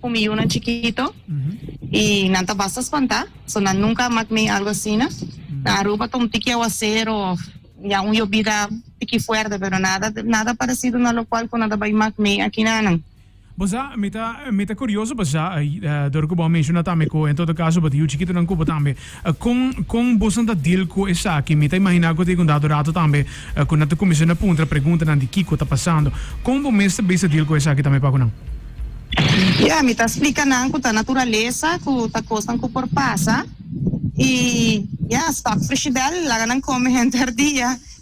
cu mi yunan chikito y nan ta basta spanta, so nan nunca a mak mey algo asina. Nan Aruba ta un tiki aguacero of ya un yobida tiki fuerte, pero nada nada parecido na locual cu nan ta bay mak mey aki na nan. Bo sa, mi ta mi ta curioso pa sa, dor cu bo a menciona tambe cu en todo caso bo tin yu chikitonan cu bo tambe Con con boso ta deal cu esaki? Mi ta imagina cu ta yiga un dado rato tambe cu nan ta cuminsha na puntra preguntanan di kico ta pasando. Con bo mes ta bisa deal cu esaki tambe pacu nan? Ya, mi ta splica nan cu ta naturalesa, cu ta cosnan cu por pasa y ya, stop frishidel, laga nan come henter dia.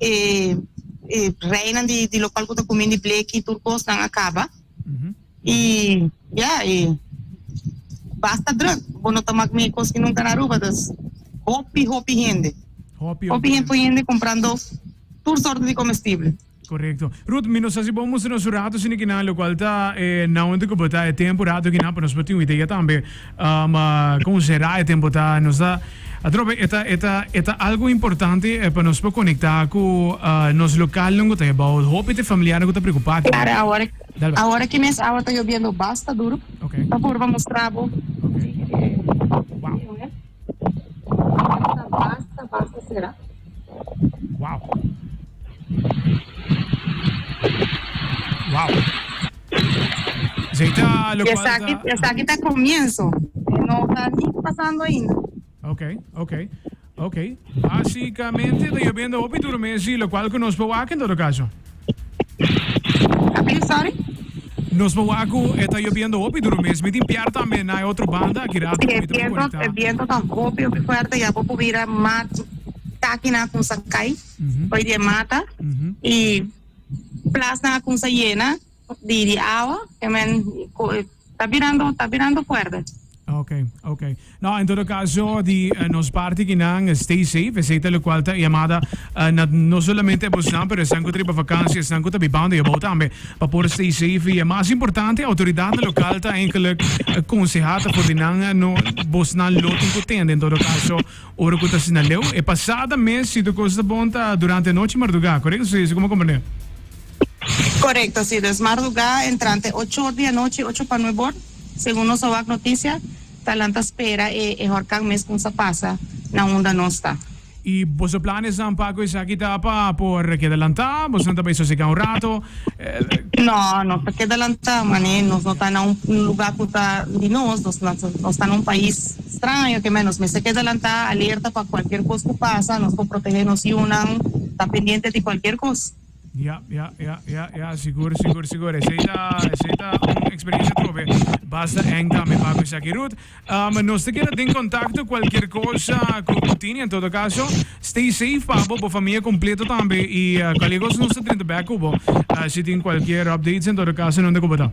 e e reinan di di lokal ku ta kumin di bleki tur kosnan a kaba i ya e basta druk bo no ta mak mi kos ki nunka na Aruba dus hopi hopi hende Hopi, hopi hende hende komprando tur sorto di komestible Correcto. Ruth, mi no sa si bo mustranos un rato sino que na lo cual ta eh, na onde que bota eh, tempo rato que na pa nos pa tin idea tambe. Ma kon será e tempu ta? Nos ta atrobe e ta e ta e ta algu importante pa nos por konektá ku nos lokal lungu ta ebou. Hopi di e familiarnan ku ta preokupá ku. Klaro awor awor aki mes awa ta yobiendo basta duru ta por bo mustra bo si e tempu e ta basta basta será. Wow. Wow. Esaki esaki ta comienzo, e no ta ni pasando ainda. Ok, ok, ok. Basicamente ta llobendo hopi duro mezi, lo cual cu nos por wak en todo caso. Apil, sorry? Nos por wak cu e ta llobendo hopi duro mezi. Mi tin pier tambe na e otro banda aki rato Si cu e mi ta por viento, e conecta. viento ta hopi hopi fuerte, ya bo por bira mat, taki nan con sa cay, hoy di e mata, y Plasnan a cunsá yena di di awa. E men ta birando ta birando fuerte. Oke, oke. No, en todo caso di nos parti kinan stay safe. Esey ta locual ta e yamada na no solamente abosnan pero esnan cu ta riba vakantie, esnan cu ta bibando e abou tambe pa por stay safe. Y e mas importante autoridadnan local ta enkelek consehá ta for di nan no bosnan lo tin cu tende en todo caso. Ora cu ta asina leu? E pasada mes si tur cos ta bon ta durante e nochi, marduga, corect? Si, si como comprende? Correcto, si dus marduga entrante ocho or di anochi, ocho pa nueb or, segun nos a wak noticia, ta lanta spera e e horcan mes con sa pasa na unda nos ta. Y boso planesnan pa cu esaki ta pa por keda lanta? Bosonan ta bay sosega un rato? Eh. No, nos ta keda lanta, mane nos no ta na un lugar cu ta di nos, nos ta na un pais. Straño ke mester nos mester keda lantá, alerta pa kualkier kos ku pasa. Nos por protehé nos yunan, ta pendiente di kualkier kos. Ya, ya, ya, ya, ya, sigur, sigur, sigur. Esei ta, esei ta un eksperensia trobe basta èng tambe pa kusa aki. Ruth, am, nos ta keda den kontakto kualkier kosa ku bo tin. En todo kaso, stay safe pa bo, bo famia kompleto tambe. I kolegos nos ta drinta bèk ku bo si tin kualkier updates. En todo kaso, nunde ku bo ta?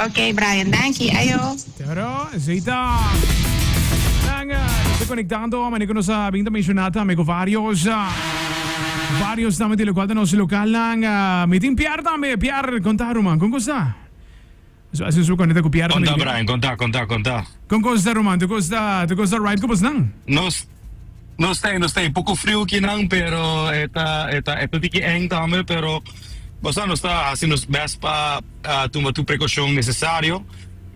Ok Brian, danki. Ayo. Charo, esey ta. Nan te konektando, manera ku nos a bin ta menshona tambe ku varios varios tambe di lokual ta nos lokalnan. Mi tin Piar tambe, Piar konta ruman, kon kosta? Nos a hasi un su konekta ku Piar tambe. Konta Brian, konta, konta, konta. Kon kosta ruman, tu kosta tu kosta right ku bosnan? Nos. No stay no stay poco friu ki nan pero e ta e ta e ta tiki eng tambe pero nos a nos ta haci nos best pa tuma tur precaucion necesario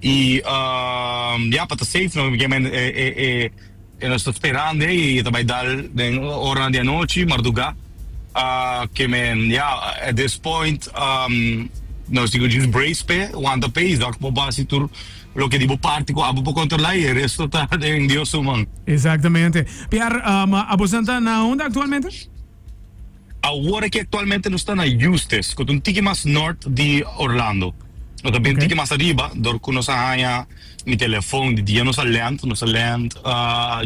y ya pa ta safe no porque men e e e e nos ta speran de y e ta bay dal den oranan di anochi marduga ke men ya at this point nos tin cu djis brace pe wanta pe y dor cu por basi tur. Loke di bo parti ku abo por kontrolá i e resto ta den Dios su man. Exactamente. Piar, um, abosan ta na hunda actualmente? Awor aki actualmente nos ta na Eustis, cu ta un tiki mas nort di Orlando. Nos ta bien tiki mas ariba, dor cu nos a haña mi telefon di dia nos a land, nos a land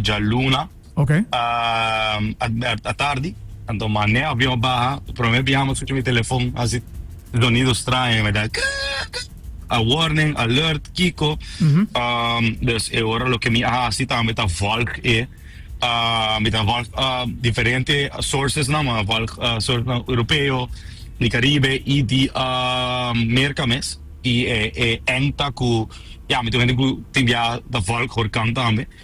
dja luna. Ok. A tardi, anto mané avion a baha, prome biaha mi a scucha mi telefon haci zonido straño, mi a da krrrr krrrr, a warning, alert, kico, dus e ora loke mi a haci tambe ta volg e, mi ta volg diferente sourcesnan, mi a volg sourcesnan Europeo, di Caribe y di Merca mes, y e ENGTA cu, ya, mi ta un hende cu tin biaha ta volg Horcan tambe.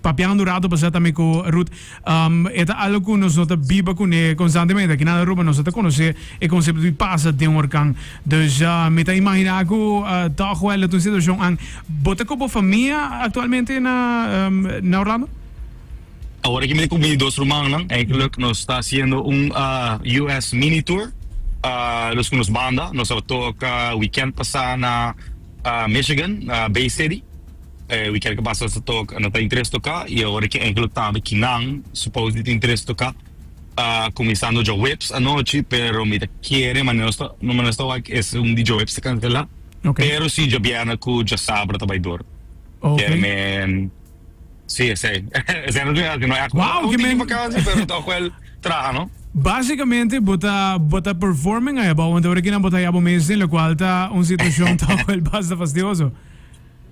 Papiando un rato pasá tambe ku Ruth, e ta algu ku nos no ta biba kuné konstantemente. Aki na Aruba nos no ta konosé e konsepto di pasa den un horkan. Dus mi ta imaginá ku tòg wèl ta un situashon an. Bo ta ku bo famia aktualmente na na Orlando? Awor aki mi ta ku mi dos rumannan. Einkèluk nos ta hasiendo un US mini tour. Nos ku nos banda. Nos a toka wikènt pasá na Michigan, na Bay City. E weekend ku pasa ta tok no ta interes toka y ora ke enkele tambe ki nan supos di ta interes toka kuminsando djoweps anochi pero mi ta kere manera nos ta manera nos ta wak ke es un di djoweps ta kansela pero si djobièrna ku djosabra ta bai dor kere mi si esei esei no ta wak no èk wou tin di vakansi pero ta wak wèl traha no. Básicamente bo ta bo ta performing ahiba want ora kinan bo ta haya bo mes den lokual ta un situashon ta wak wèl basta fastioso.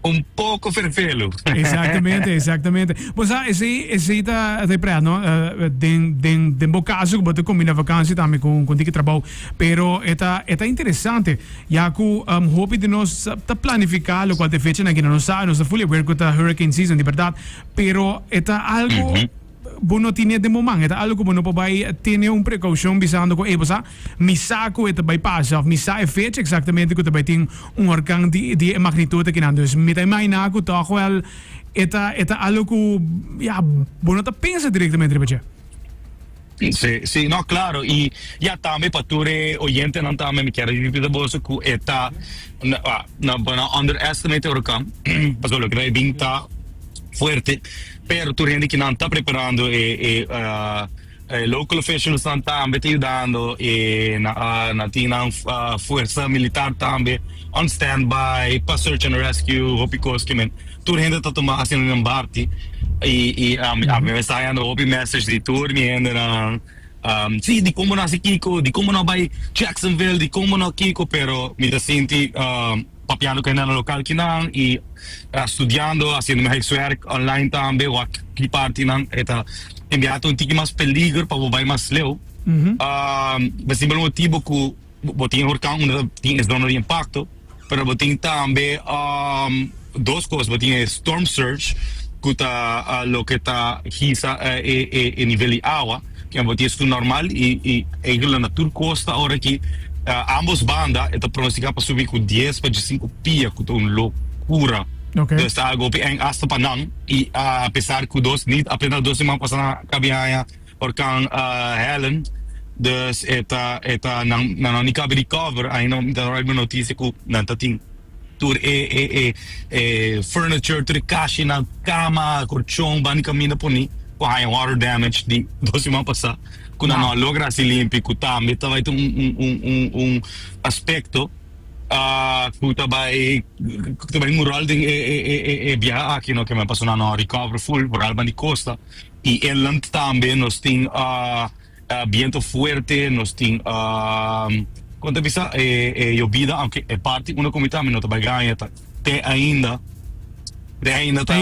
Un poco fervelu. Exactamente, exactamente. Pues ah, ese, ese ta te prea, no? Uh, den, den, den bo caso que bote combina vakantie también con, con dique trabajo. Pero eta, eta interesante. Ya cu um, ehm, hopi de nos ta planifica lo cual te fecha na gina no sabe, no sa fully aware cu ta hurricane season, de verdad. Pero eta algo... Mm -hmm. Bo no tin e den bo man. E ta algo cu bo no por bay tene un precaucion bisando cu ey sa, mi sa cu e ta bay pasa of mi sa e fecha exactamente cu ta bay tin un horcan di di e magnitud akinan. Dus mi ta imagina cu toch wel e ta e ta algo cu ya bo no ta pensa directamente riba dje. Si, si, no claro y ya tambe pa tur e oyentenan tambe mi kier a repita bo eso cu e ta bo no underestimate e horcan pasobra loke ta bay bin ta fuerte. Pero tur hende kinan ta preparando e e e local officials nan tambe ta yudando e nan tin nan fuerza militar tambe on standby pa search and rescue hopi cos kimen tur hende ta tuma accion nan barti y y a mi esta hayando hopi message di tur mi hende nan si di como nan haci kico di como nan bay Jacksonville di como nan kico pero mi ta sinti. Papiando cu e nena local kinan y studiando, haciendo mi huiswerk online tambe, wak ki parti kinan e ta envia ta un tiki mas peligro pa bo bay mas leu. Bo simpel motibo cu bo tin e hurcan unda ta tin e zona di impacto, pero bo tin tambe dos cos, bo tin e storm surge cu ta loke ta hisa e nivel di awa. Ken bo ties ku normal i ei ku lana tur kos ta ora ki ambos banda e ta pronostika pa subi ku dies pa djisinku pia ku ta un lokura dos ta gopi èn asta pa nan i apesar ku dos nit apenas dos siman pasa nan a kabi haña orkan Helen dus e ta e ta nan no ni kabi rikòver ainda mi ta horabi un notisia ku nan ta tin. tur e e e e furniture tur e kashinan kama kolchon bani kaminda poni ku haña water damage di dos siman pasá ku nan no a logra hasi limpi ku tambe ta bai ta un un un un un aspekto ku ta bai ku ta bai mural den e e e e e biaha aki no ke men pasobra nan no a recover full boral bani kosta i eland tambe nos tin. Bientu fuerte nos tin kon ta bisa e yobida aunke e parti unda ku mi ta mi no ta bai gaña ta te ainda te ainda ta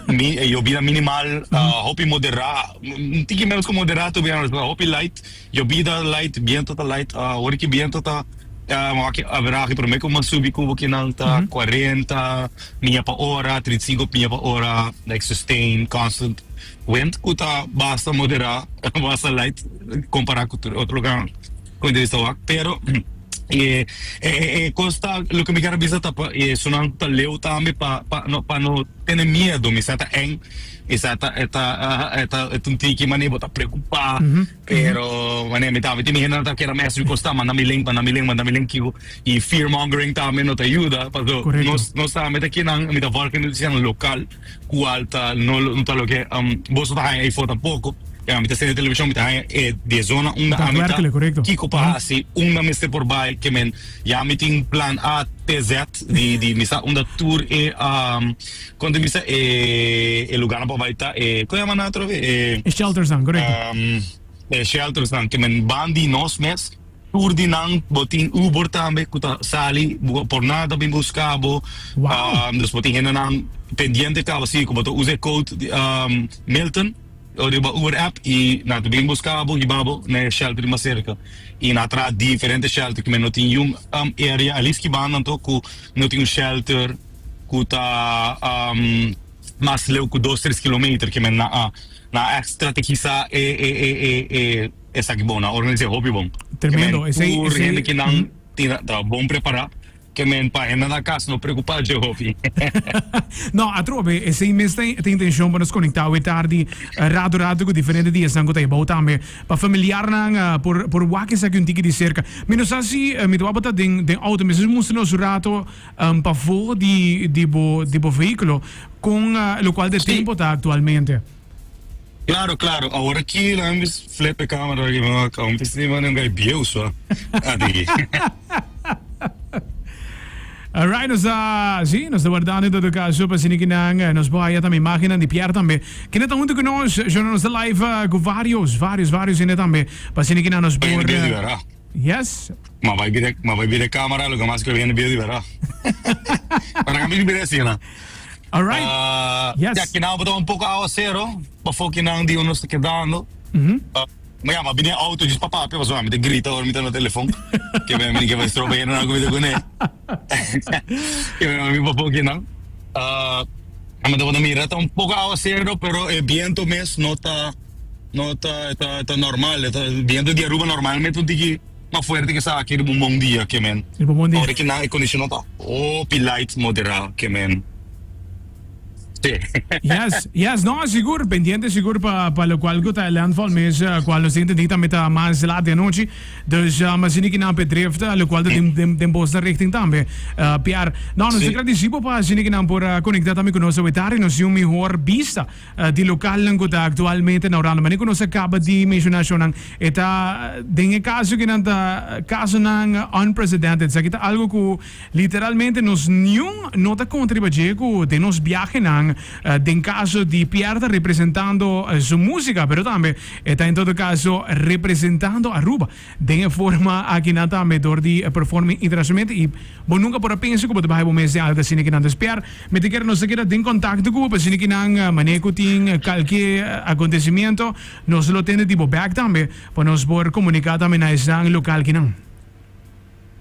mi e yobida minimal hopi moderá un tiki menos ku moderá to bi a ta hopi light yobida light bientu ta light ora ki bientu ta wak averahi promé ku mas subi kuba kinan ta cuarenta mia pa ora treinta y cinco mia pa ora like sustain constant. Wend cu ta basta moderá basta light compará cu tur e otro loga cu entrevista wak. Pero e e cos ta loke mi quier a bisa ta pa e esunnan cu ta leu tambe pa pa no pa no tene miedo mi sa ta eng mi sa ta e ta e ta e ta un tiki manera bo ta preocupá pero manera mi tambe tin mi hende nan ta keda mes mi cos ta manda mi link manda mi link manda mi link kico y fear mongering tambe no ta yuda paso nos nos tambe ta kinan mi ta work in un local. Cual ta no lo ta loke um boso ta haña afor tampoco. Pero mi ta sende television mi ta haña e di e zona unda ami ta kico pa haci unda mester por bay ke men ya mi tin plan a te zet di di mi sa unda tur e um con ta bisa e e lugarnan pa bay ta e con yaman nan atrobe e um e sheltersnan ke men ban di nos mes. Tur di nan bo tin Uber tambe ku ta sali por nada ta bin buska bo dus bo tin hendenan pendiente kaba si ku bo ta usa e code Milton riba Uber app i nan ta bin buska bo hiba bo na e shelter di mas serka i nan a traha diferente shelter ku mi no tin yun area alis kibanda anto ku no tin un shelter ku ta mas leu ku dos tres kilometer ke men nan a strategisa e. Esaki bon, nan organis'é hopi bon. Ke men tur hende ki nan tin ta bon prepará, ke men pa hende nan kas no preokupá dje hopi. No, atrobe, esei mes ta ta intenshon pa nos konektá awe tardi ratu ratu ku diferente diasnan ku ta ebou tambe, pa familiarnan por por wak esaki un tiki di serka. Mi no sa si mi tabata ta den den outo, mi esaki mustra nos un ratu pafó di di bo di bo vehíkulo kon lokual di tempo ta aktualmente. Claro, claro. Awor aki nan a mis flip e camera aki bo a un pisni bo nan gai bieu so a di. Alright, nos ta, sí, nos ta guardando en todo caso pa sini kinan eh, nos boa ya también imagen di Pierre también. Kina ta junto con nos, yo nos ta live eh, con varios, varios, varios ene también. Pa sini kinan nos Oye, por... mi dia eh, liberá. Yes. Ma bai bira ma bai bira camera lo que mas quiero hende bira di verdad pero nan a mira bira asina Alright uh yes ya kinan bo ta un poco aguacero pafo kinan di un nos ta quedando uh ma ya ma bini e auto just pa papia pasobra nan mi ta grita ora mi ta na telefon ke mi mi ke estroba hende nan ku mi ta kune ke mi mi pafo kinan uh mi ta bo ta mira ta un poco aguacero pero e biento mes no ta. No ta ta ta normal e ta bientu di Aruba normalmente un tiki mas fuerte ke esaki riba un bon dia ke men Riba un bon dia. ora ki nan e kondishonó ta hopi light moderá ke men si. Yes yes no sigur pendiente sigur pa pa lokual ku ta landfall mes kual nos tin intendí tambe ta mas lat di anochi dus masini ki nan pe drift lokual ta den den den bosnan richting tambe pier no nos ta si. gradisí bo pa asina ki nan por konekta tambe ku nos awe tarde nos si un mihor bista. di lokalnan ku ta aktualmente na Orlando. Mane ku nos a kaba di menshona shonnan, e ta den e kaso kinan ta kasonan unprecedented. Esaki ta algu ku literalmente nos niun no ta konta riba dje ku den nos biahenan den kaso di Pierta representando su músika pero tambe e ta en todo kaso representando Aruba. Den e forma aki nan ta medor di performing internacionalmente y bo nunca por a pensa cu bo ta baha bo mes den algo asina cu nan ta spiar. Mi ta kere nos ta keda den contacto cu bo pa asina cu nan manera cu tin calke acontecimiento nos lo tende di bo bek tambe pa nos por comunica tambe na esnan local ki nan.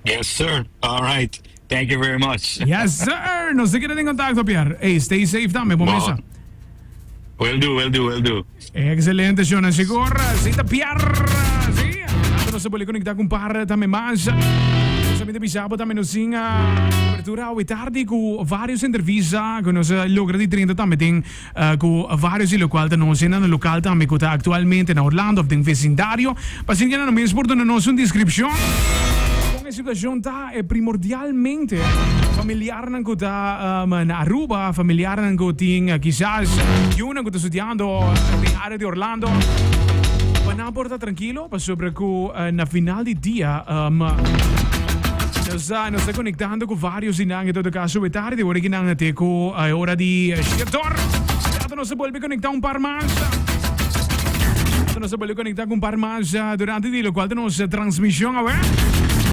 Yes sir alright thank you very much. Yes sir nos ta keda den contacto Pier ey stay safe tambe bo mesa. Will do will do will do. Excelente show nan Shigor si ta Pier si later nos ta boli conecta cu un par tambe mas nos a minte bisa bo tambe nos sin apertura awe tardi cu varios entrevista cu nos a logra di drenta tambe den ku vários di lokual ta nosi na no lokal tambe ku ta aktualmente na Orlando òf den vesindario. Pa asina ke nan mes por duna nos un deskripshon kon e situashon ta. E primordialmente familiarnan ku ta na Aruba, familiarnan ku tin kisas yunan ku ta studiando den área di Orlando pa nan por ta trankilo. Pasobra ku na final di dia nos a nos a konektando ku vários di nan. En todo kaso e tardi ora ki nan a te ku e ora di shia dor. Laga nos a bolbe konektá un par mas. Laga nos a bolbe konektá ku un par mas durante di lokual ta nos transmishon awe.